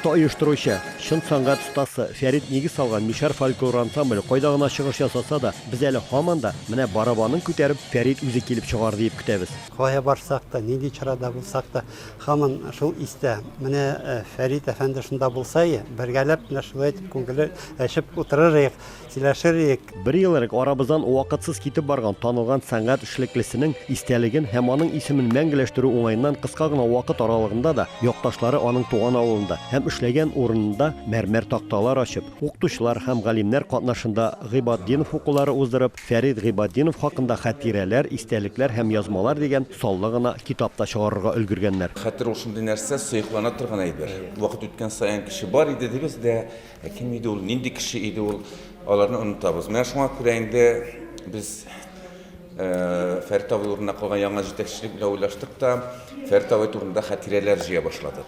Оста оештыручы, чын сәнгать остасы Фәрит нигез салган Мишәр фольклор ансамбле кайда гына чыгыш ясаса да, без әле һаман да, менә барабанын күтәреп, Фәрит үзе килеп чыгар диеп көтәбез. Кая барсак та, нинди чарада булсак та, Һаман шул истә. Менә Фәрит әфәнде шунда булса и, бергәләп менә шулай итеп күңелле әчеп утырыр иек, сөйләшер иек. Бер ел элек арабыздан вакытсыз китеп барган танылган сәнгать эшлеклесенең истәлеген һәм аның исемен мәңгеләштерү уңаеннан кыска гына вакыт аралыгында да якташлары аның туган авылында һәм эшләгән урынында мәрмәр такталар ачып, укытучылар һәм галимнәр катнашында Гыйбатдинов укулары уздырып, Фәрит Гыйбатдинов хакында Хәтирәләр, истәлекләр һәм язмалар дигән саллы гына китап та чыгарырга өлгергәннәр. Хәтер ул шундый нәрсә, сыеклана торган әйбер. Вакыт үткән саен кеше бар иде дибез дә, ә кем иде ул, нинди кеше иде ул, аларны онытабыз. Менә шуңа күрә инде без Фәрит абый урынына калган яңа җитәкчелек белән уйлаштык та, Фәрит абый турында хәтирәләр җыя башладык.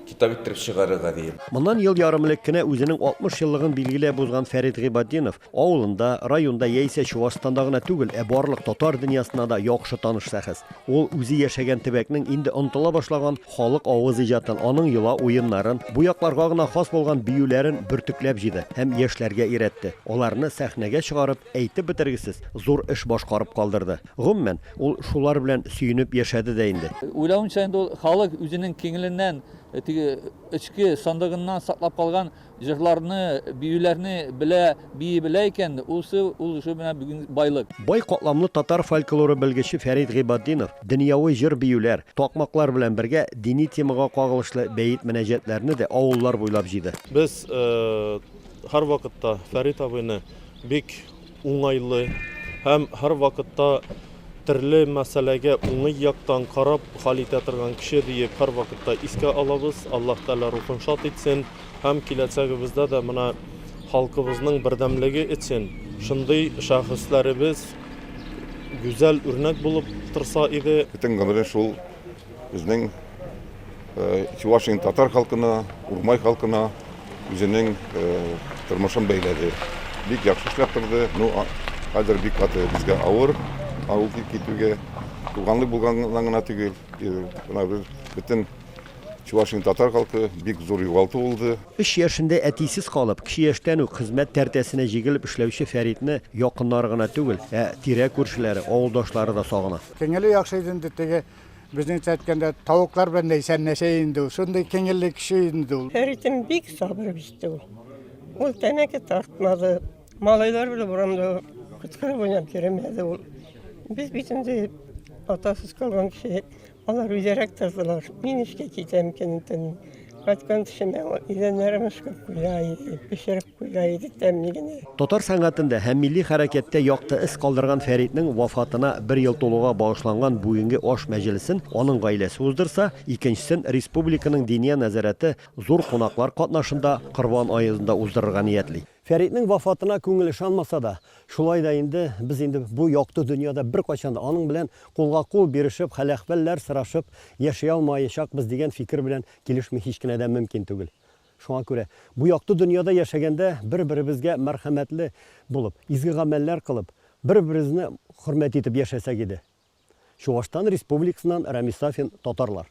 Китап иттереп чыгарырга диеп. Моннан ел ярым элек кенә үзенең 60 еллыгын билгеләп узган Фәрит Гыйбатдинов Авылында, районда яисә Чуашстанда гына түгел, ә барлык татар дөньясына да яхшы таныш шәхес. Ул үзе яшәгән төбәкнең инде онытыла башлаган халык авыз иҗатын, аның йола уеннарын, бу якларга гына хас булган биюләрен бөртекләп җыйды һәм яшьләргә өйрәтте, аларны сәхнәгә чыгарып, әйтеп бетергесез зур эш башкарып калдырды. Гомумән, ул шулар белән сөенеп яшәде дә инде. Уйлавымча, инде ул халык үзенең киңленнән, теге эчке сандыгыннан саклап калган Җырларны, биюләрне белә, бии белә икән, усы ул уже менә бүген байлык. Бай катламлы татар фольклоры белгече Фәрит Гыйбатдинов дөньяви җыр-биюләр, такмаклар белән бергә дини темага кагылышлы бәет-мөнәҗәтләрне дә авыллар буйлап җыйды. Без һәрвакытта Фәрит абыйны бик уңайлы һәм һәрвакытта төрле мәсьәләгә уңый яктан карап хәл итә торган кеше диеп һәрвакытта искә алабыз. Аллаһ Тәгалә рухын шат итсен һәм киләчәгебездә дә менә халкыбызның бердәмлеге өчен шундый шәхесләребез гүзәл үрнәк булып торса иде. Бөтен гомерен шул безнең Чувашиянең татар халкына, Урмай халкына үзенең тормышын бәйләде. Бик яхшы эшләп торды. Ну, хәзер бик каты безгә авыр авыл килеп китүгә. Туганлык булганнан гына түгел, мына без бөтен Чувашиянең татар халкы бик зур югалту булды. Өч яшендә әтисез калып, кече яшьтән үк хезмәт тәртәсенә җигелеп эшләүче Фәритне якыннары гына түгел, ә тирә-күршеләре, авылдашлары да сагына. Күңеле яхшы иде инде, теге Безнеңчә әйткәндә, тавыклар белән дәйсән нәшә инде ул. Шундый киңелле кеше инде ул. Фәритем бик сабыр бит ул. Ул тәмәке тартмады. Малайлар белән урамда кычкырып уйнап йөремәде ул. Без бит инде атасыз калган кеше. Алар үзерәк тордылар. Мин эшкә китәм көнтен. Кайткан төшемә идәннәрем эшкә куя, пешереп Гай итек тәмли генә. Татар сәнгатендә һәм милли хәрәкәттә якты эз калдырган Фәритнең вафатына бер ел тулуга багышланган бүгенге аш мәҗелесен аның гаиләсе уздырса, икенчесен республиканың Диния нәзарәте зур кунаклар катнашында Корбан аезында уздырырга ниятли. Фәритнең вафатына күңел ышанмаса да, шулай да инде без инде бу якты дөньяда беркайчан да аның белән кулга-кул бирешеп, хәл-әхвәлләр сорашып яши алмаячакбыз дигән фикер белән килешми һич кенә дә мөмкин түгел. Шуңа күрә бу якты дөньяда яшәгәндә бер-беребезгә мәрхәмәтле булып, изге гамәлләр кылып, бер-беребезне хөрмәт итеп яшәсәк иде. Чуашстан Республикасыннан Рәмис Сафин, Татарлар.